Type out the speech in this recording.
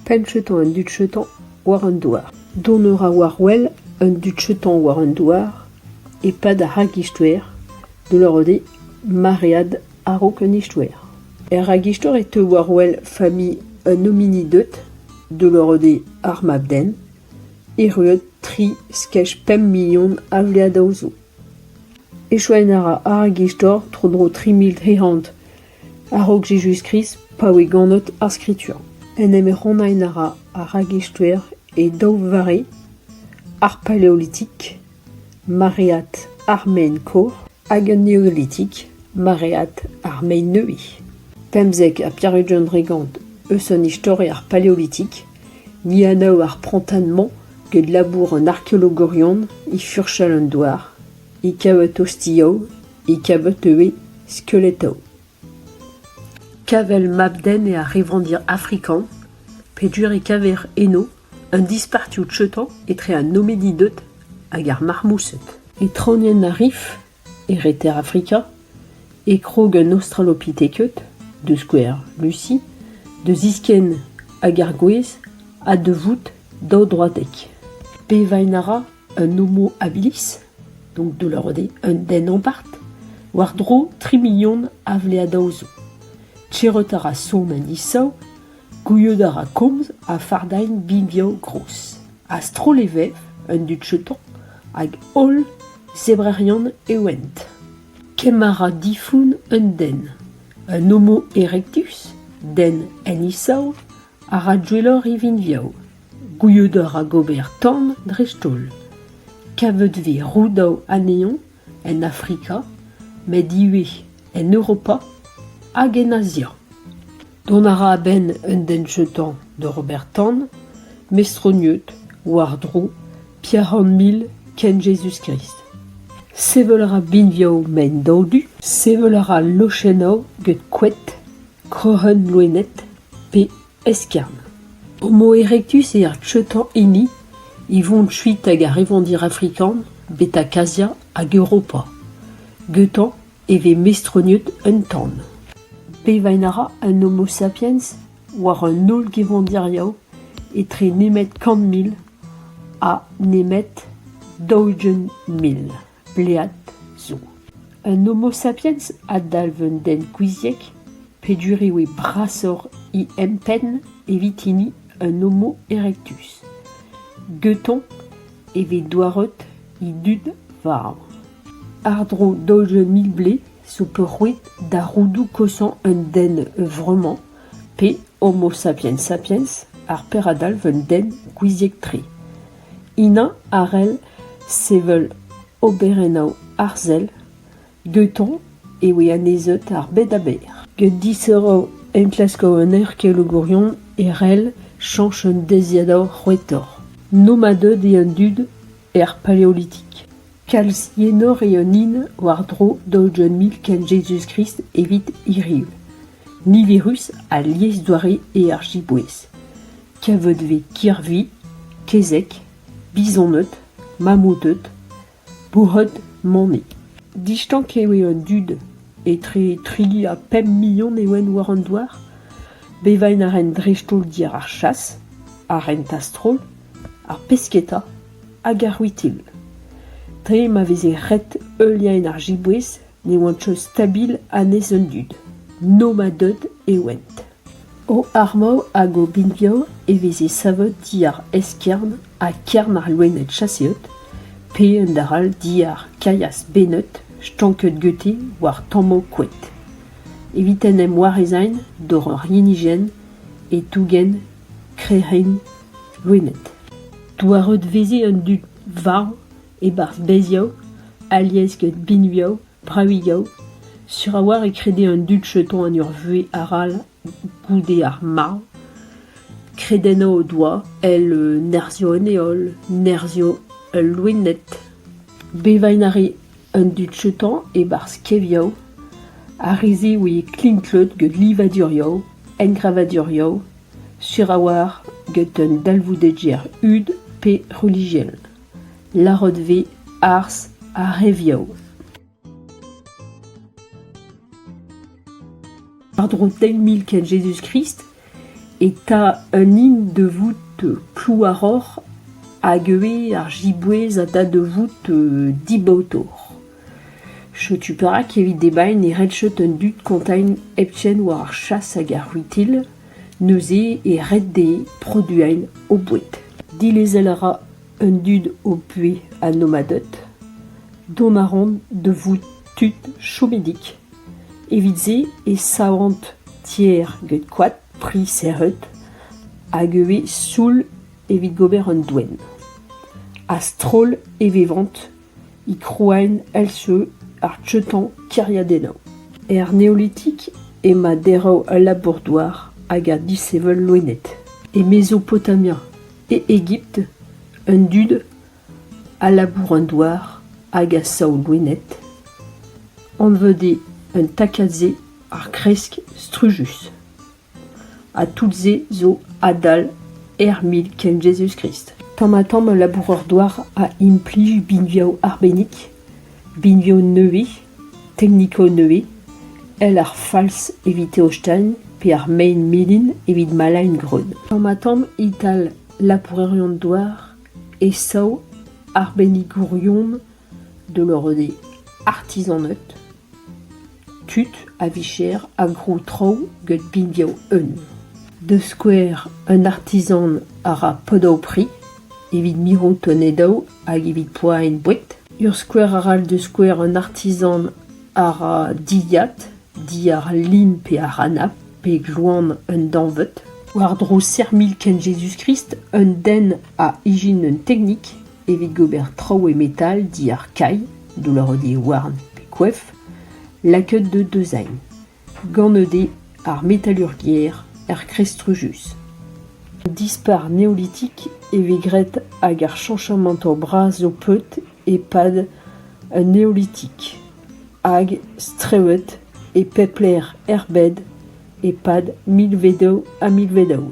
Penncheutañ un dud-cheutañ war an douar. Dont a ra war-wel un dud-cheutañ war an douar e-pad ar ragistor da lavarout eo maread a-raok an istor. Er ragistor e teu war-wel familh un homini deut da lavarout eo ar mab-den erruet tri skej pemp million a vleadoù zo. Echuañ a ra ar ragistor tro-dro tri mil tri c'hant A-raok Jezuz-Krist, pa oe ganet ar Skritur, en em rannain a ra ar ragestoer e daou vare, ar Paleolitik, maread ar mein-kor, hag an Neolitik, maread ar mein-neuze. Pemzek ha pevar-ugent regant eus an istori ar Paleolitik, ni anav ar prantad-mañ get labour an arkeologorion e furchal an douar. e kaver tostiañ, e kaver teuet, skelettoù. Kavel mab-den eo ar revandir afrikan, peogwir e kaver eno un dispartioù treutañ etre an Hominided hag ar Marmoused. Etraonian ar rif, e reter Afrika, e krog an Australopithecus, da skouer Lucy, da ziskenn hag ar gwez ha da vout daou droadek. Bevain a ra Un homohabilis, donc de lorde un den ampart, war-dro tri million a vleadaoù zo. Tcherret a ra son an isav, gouiet a ra komz ha fardailh binvioù gros. A-stroll e vev, an dud cheton, hag holl zebrerion e oent. Kemm a ra difoun un den. Un homo erectus, den en isav, a ra gwelloc'h e vinvioù. Gouzout a ra gober tamm dreist-holl kavet vez roudaou anezhañ en Afrika met ivez en Europa hag en Azia. Dont a ra a-benn un den jetant da ober tan mestroniet war-dro Pierre-Henmil kent Jezuz-Krist. Sevel a ra binvioù mein-daodu, sevel a ra lochennoù get koed, kroc'hen loened pe eskern. Ar moa erektus eo ar treutañ hini e vont kuit ag ar revandir afrikan betek Azia hag Europa. Gantañ e vez mestroniet un tan. Bevain a ra an Homo sapiens war an holl gevandirioù etre nemet kant mil ha nemet daou-ugent mil. Blead zo un Homo sapiens a dalv un den gouiziek peogwir eo brasoc'h he empenn evit hini un Homo erectus. Geuton e vez douaret he dud war. Àr-dro daouzek mil blez zo peurrouet da roudoù kosañ un den vremañ pe Homo sapiens sapiens ar per a dalv un den gouiziek-tre. Ina a rell sevel oberennoù arzel gantañ e voe annezeut ar bed-aber. Get distro enklaskoù un erkelogourion e rell chañs un deiziadur c'hwetoc'h. Nomadeed eo an dud er paleolitik. Kalz enor eo an hin war-dro daoudegont mil kent Jezuz-Krist evit hiriv. Niverus ha liesdoare eo ar jiboez. Kevodve Kirvi, kezeg, bizoned, mammouted, bourc'hed Manne. Distank eo eo an dud. Etre trigi ha pemp million eo ent war an douar. Bevain a rent dreist-holl diàr ar chas, ar rent-a-stroll, ar pesketa hag ar c'hwitil. Dre ma veze ret heuliañ ar jiboez ne oant choaz stabil a-nes an dud. Nomaded e oant. O armoù hag o binvioù e veze savet diàr eskern ha kern ar loened chaseet, pe un dac'hall diàr kailhas bennet stanket gete war tammoù koed, evit en em warezañ doc'h ur hinijenn e tougen krec'henn loened. Douaret 'veze an dud varv E-barzh bezioù, alies get binvioù, bravilhoù, sur a-walc'h e krede an dud jeton en ur vuhez arall goude ar marv kredennañ o doa èl nerzhioù an heol, nerzhioù ul loened. Bevain a rae an dud jeton e-barzh kevioù, ar re-se oe klinklet get livadurioù, engravadurioù, sur a-walc'h get un dalvoudegezh hud pe relijiel. Larrotve, arz ha re viou. Pardon, teil mil ken Jezuz-Krist eta un hin da vout klouaroc'h hag ivez ar jiboez a da da vout dibaotoc'h. Setu perak evit debriñ ne red chot an dud kontañ hepken war ar chas hag ar c'hwitil, neuze e red dezhe produiñ o boued. Dilezel a ra an dud o buhez ha nomaded. Dont a raont da vout tud chomedig. Evit-se e savont tier get koad, pri serret hag e vez sioul evit gober an doenn. A-stroll e vevont e krouent èl-se ar teuton kêriadennoù. Er neolitik emañ derv al labour-douar hag ar disheñvel loened, e Mezopotamia, e Egipt, an dud a labour an douar hag a sav loened, anvet eo an takad-se ar gresk strujus. ha tout-se zo adal ermit kent Jezuz-Krist. Tamm-ha-tamm ul laboureur-douar a implij binvioù arbennik, binvioù nevez, teknikoù nevez, èl ar fals evit Teostein pe ar mein melen evit Malain-Greun. Tamm-ha-tamm e-tal labourerion-douar e sav arbennikourion de leur de artizaned Tud a-vicher a grou traoù get binvioù un, da skouer un artizan a ra podoù-pri evit mirout tonedoù hag evit poaen boued. Ur skouer arall da skouer un artizan a ra dilhad, diàr lin pe àr anab, pe gloan un dañvad. War-dro serr-mil kent Jezuz-Krist, un den a ijin un teknik. Evit gober traoù e metal diàr kailh, doullaroù-houarn pe koef, lakaet eo deuzañ. Gant ede ar metalurgiezh er kreiz strujus. Dispar neolitik e vez graet hag ar chañchamañtoù bras zo peut e-pad un neolitik, hag strewet e pep lec'h er bed e-pad milvedoù ha milvedoù.